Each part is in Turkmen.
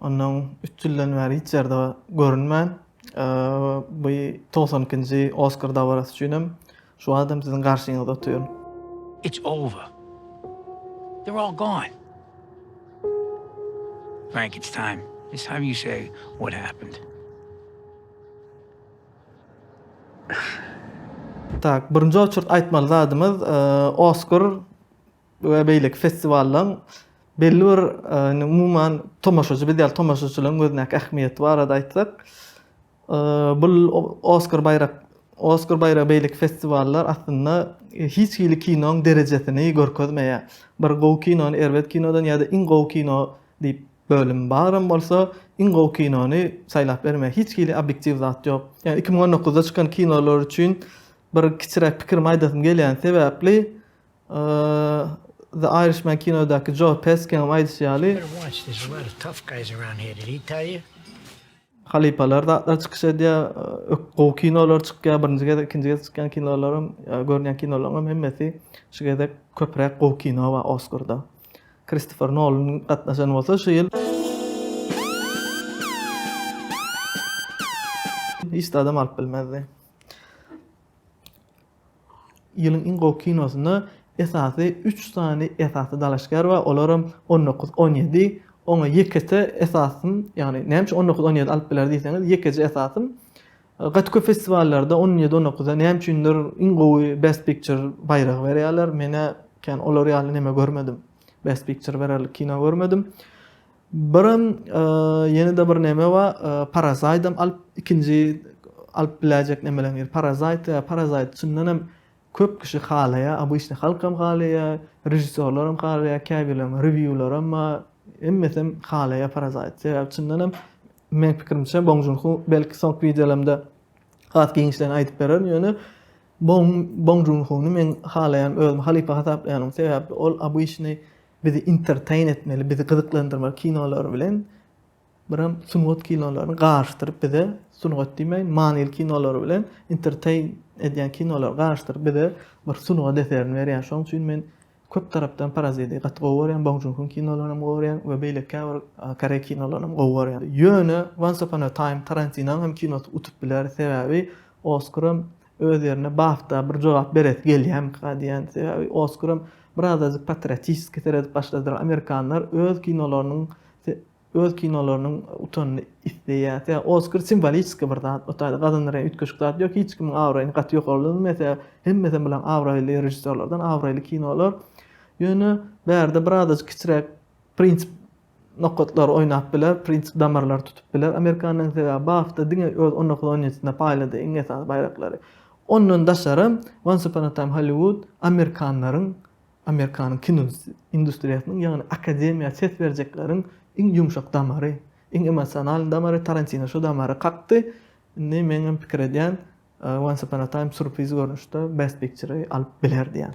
Ondan üç ýyldan bäri hiç ýerde görünmän, bu togsan ikinji Oskar dabarasy üçin hem şu wagtam siziň garşyňyzda otyryn. It's over. They're all gone. Frank, it's time. It's time you say what happened. Tak, birinji oçurt aýtmaly zadymyz, Oskar we beýleki festiwallaryň belli bir umuman tomaşaçy biz ýaly tomaşaçylaryň gözündäki ähmiýeti barada aýtsak, bu Oskar baýrak Oskar baýragy beýleki festiwallar aslynda hiç hili kinoň derejesini görkezmeýär. Bir gowy kinony erbet kinodan ýa-da iň gowy kino diýip bölüm baram bolsa, iň gowy kinony saýlap bermeýär. Hiç hili obýektiw zat ýok. Ýa iki müň on dokuzda çykan kinolar üçin bir kiçiräk pikirimi aýdasym gelýäni sebäpli, The Irishman kinodaky Joe Peskegiň aýdyşy ýaly, halypalar zatlar çykyş edýär, gowy kinolar çykýar, birinji gezek, ikinji gezek çykýan kinolaram, görýän kinolaryňam hemmesi şu gezek köpräk gowy kino bar Oskarda. Kristofer Nolan gatnaşan bolsa şu ýyl. Hiç zat hem alyp bilmezdi. Ýylyň iň gowy kinosyna esasy üç sany esasy dalaşgär bar, olaram on dokuz, on ýedi. Oňa ýekeje esasym, ýagny näme üçin on dokuz, on ýedi alyp biler diýseňiz, ýekeje esasym gaty köp festiwallarda on ýedi, on dokuza näme üçindir iň gowy Best Picture baýragy berýärler. Men-ä kän olar ýaly neme görmedim. Best Picture bererlik kino görmedim. Birem ýene-de bir neme bar, parasaýdam alyp ikinji alyp biläýjek nemeleriň biri parasaýt. Parasaýt çyndan hem köp kişi halaýar, obýçny halkam halaýar, režissýorlaram halaýar, käbirleriň rewiýularam bar. Hemmesem halaýar parasaýt. Sebäbi çyndan hem meň pikirimçe Bong Jun Ho belki soňky wideolarymda has giňişleýin aýdyp bererin, ýöne Bong Jun Hony men halaýan, özümi halypa hasaplaýaryn. Sebäbi ol obýçny Bizi entertain etmeli, bizi gyzyklandyrmaly kinolar bilen biram sungat kinolaryny garyşdyryp bize sungat diýmeýin, manyly kinolar bilen entertain edýän kinolary garyşdyryp bize bir sungat eserini berýär. Şonuň üçin men köp tarapdan Paraziti gaty gowy görýän, Bong Joon-ho kinolaryny hem gowy görýän we beýleki käbir koreý kinolaryny hem gowy görýän. Ýöne Once Upon a Time Tarantinoň hem kinosy utup biler, sebäbi Oskaram Öz ýerine Bafta bir jogap beresi gelýärmika diýýän. Sebäbi Oskaram birazajyk patriotiski seredip başladylar. Amerikanlar öz kinolarynyň öz kinolarynyň utanyny isleýär. Sebäbi Oskar simboliski bir zat. O taýda gazanylýan üýtgeşik zat ýok. Hiç kimiň abraýyny gaty ýokarlandyrmaýar. Sebäbi hemmesem bilen abraýly režissýorlardan abraýly kinolar. Ýöne bärde birazajyk kiçiräk prinsip Nokatlar oýnap biler, Prins damarlar tutup biler amerikanlaryň sebäbi bu hafta diňe öz on dokuz on ýedisinde paýlady iň esasy baýraklary. Ondan daşaram Once Upon a Time Hollywood amerikanlaryň amerikanyň kino industriýasynyň ýagny akademiýa ses berjekleriň iň ýumşak damary, iň emosionalnyý damary Tarantino şu damary kakdy. Indi meňem pikir edýän Once Upon a Time surpriz görnüşde Best Picture-y alyp biler diýýän.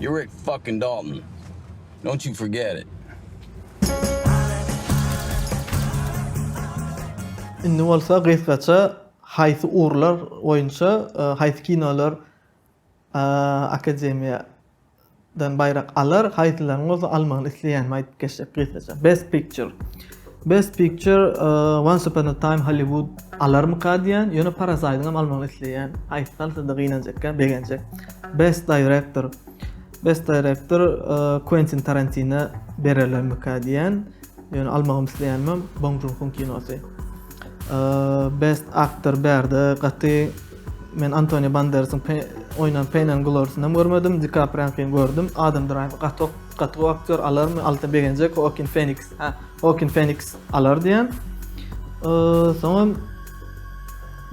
You're Rick fucking Dalton. Don't you forget it. Indi bolsa gysgaça haýsy ugurlar boýunça haýsy kinolar akademiýa dan baýrak alar, haýsylaryň bolsa almagyny isleýänimi aýdyp geçsek gysgaça. Best Picture. Best picture Once upon a time Hollywood alarmyka diýýän, ýöne Parasite-yň hem almagyny isleýän. Aýtsam sizde gynanjakka, begenjek. Best director Best director Quentin Tarantino bererlermika diýýän, ýöne almagyny isleýänmem Bong Joon-huň kinosy. Best actor bärde gaty men Antonio Banderasiň oýnan Pain and Glory-syny hem görmedim, DiKapriýanyňkyny gördüm, Adam Driver gaty ok. Gaty gowy aktýor alarmy Alta begenjek Hoakin Feniks ha Hoakin Feniks alar diýen soňam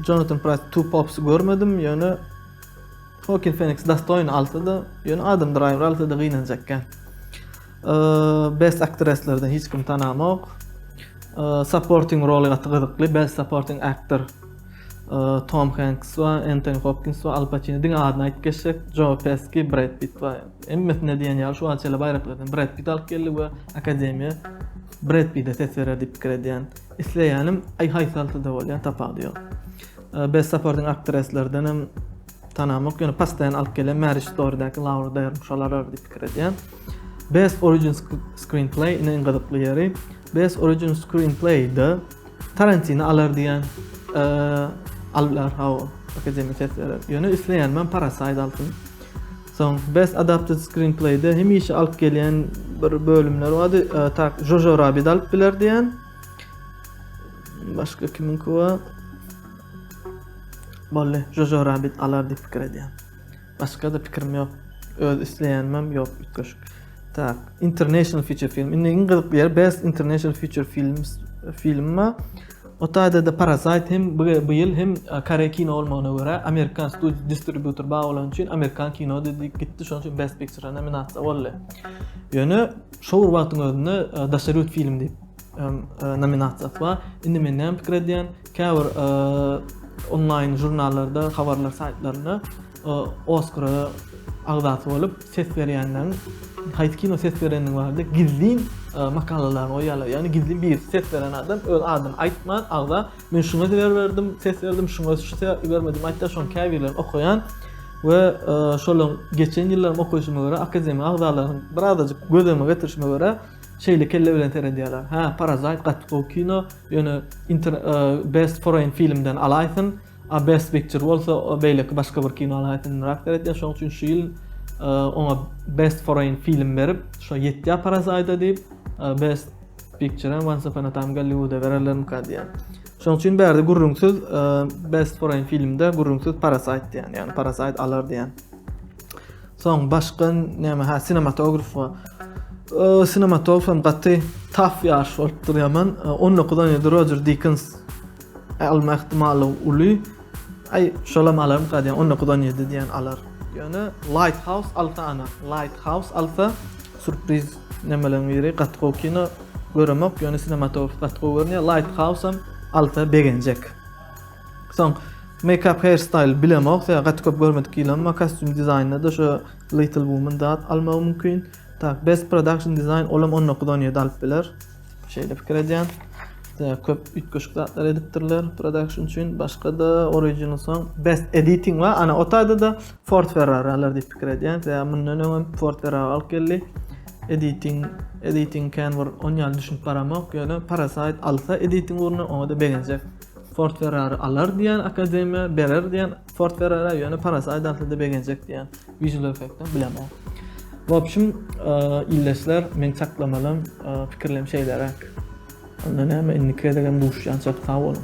Jonathan Price Two Pops görmedim ýöne Hoakin Feniks dostoýny alsa da ýöne Adam Driver alsa da gynanjakka Best Actresslerden hiç kim tanamok Supporting role gaty gyzykly Best Supporting Actor Tom Hanks we Anthony Hopkins we Al Pacino diňe adyny aýdyp geçsek, Joe Pesci, Brad Pitt we hemmesinde diýen ýaly şu wagtça şeýle baýraklardan Brad Pitt alyp geldi we akademiýa Brad Pitt-e ses berer diýip pikir edýän. Isleýänim aý haýsaltyda bolýar, tapawudy ýok. Best supporting aktrislerden hem tanamok, ýöne pastaýan alyp gelen Marriage Story-däki Laura Dern şolar alar diýip pikir edýän. Best origin screenplay ine iň gyzykly ýeri. Best origin screenplay-de Tarantini alar diýen allar hawa akademik ses berer. Ýöne isleýän men Parasite alsyn. Soň Best Adapted Screenplay-de hemişe alyp gelýän bir bölümler bardy. Tak Jojo Rabbit alyp biler diýen. Başga kimin kuwa? Bolly, Jojo Rabbit alar diýip pikir edýän. Başgada pikirim ýok öz isleýänimem ýok üýtgeşik tak international feature film indi iň gyzykly ýeri best international feature films film bar o taýdada parasite hem bu ýyl hem koreý kino bolmagyna görä amerikan studiýa distributor bar bolany üçin amerikan kino diýip gitdi şonuň üçin best picture nominasiýa boldy ýöne şo bir wagtyň özünde daşary ýurt film diýip nominasiýasy bar indi men näme pikir edýän Käbir onlaýn žurnallarda, habarlar saýtlarynda Oskara agzasy bolup ses berýänleriň haýsy kino ses berenligi barada gizlin makalalary goýýarlar. Ýagny gizlin bir ses beren adam öz adyny aýtman, agza men şuňa ber berdim, ses berdim, şuňa şu sebäpli bermedim aýtýar. Şony käbirleri okaýan we şolaryň geçen ýyllaryň okaýşyma görä akademiýa agzalarynyň birazajyk göz öňüne getirişime görä şeýle kelle bilen seredýärler. Hä, Parazait gaty gowy kino. Ýöne inter best foreign filmden alaýsyn, a best picture bolsa beýleki başga bir kino alaýsyn ynrak däretýär. Şonuň üçin şu ýyl oňa best foreign film berip, şo ýetýär Parasite diýip, best picture hem Once Upon a Time Gollywood-a bererlermika diýýän. Şoň üçin bärde gürrüňsiz e, Best Foreign filmde gürrüňsiz Parasite diýýän, ýagny Parasite alar diýýän. Soň başga näme ha sinematograf we sinematograf hem gaty taf ýaş bolup dur ýaman. 19 on ýedi Roger Dickens alma ihtimali uly. Ay şolam alarm gadyň 19 on ýedi diýen alar. Ýöne Lighthouse alsa ana Lighthouse alsa surpriz nemeleň biri gaty gowy kino göremok ýöne sinematograf gaty gowy görünýär Lighthouse hem alsa begenjek. Soň Makeup hair style bilemok sebäbi gaty köp görmedik hili emma kostýum dizaýnynda da şo little woman zat almagy mümkin. Tak best production design olam on dokuz on ýedi alyp biler. Şeýle pikir edýän. Sebäbi köp üýtgeşik zatlar edipdirler production üçin. Başga da original song best editing we ana o taýda da Ford Ferrari alar diýip pikir edýän. Sebäbi mundan öňem Ford Ferrari alyp geldi. Editing editing can bir on ýaly düşünip baramok ýöne Parasite alsa editing ugruna oňa da begenjek. Ford Ferrari alar diýýän akademiýa, berer diýýän Ford Ferrari, ýöne parasy aýdaltyda begenjek diýýän visual effektden bilemok. Wobşim, ildeşler, men çaklamalym, pikirlerim şeýleräk. Onda näme, indiki gezegem duşýançak, sag boluň.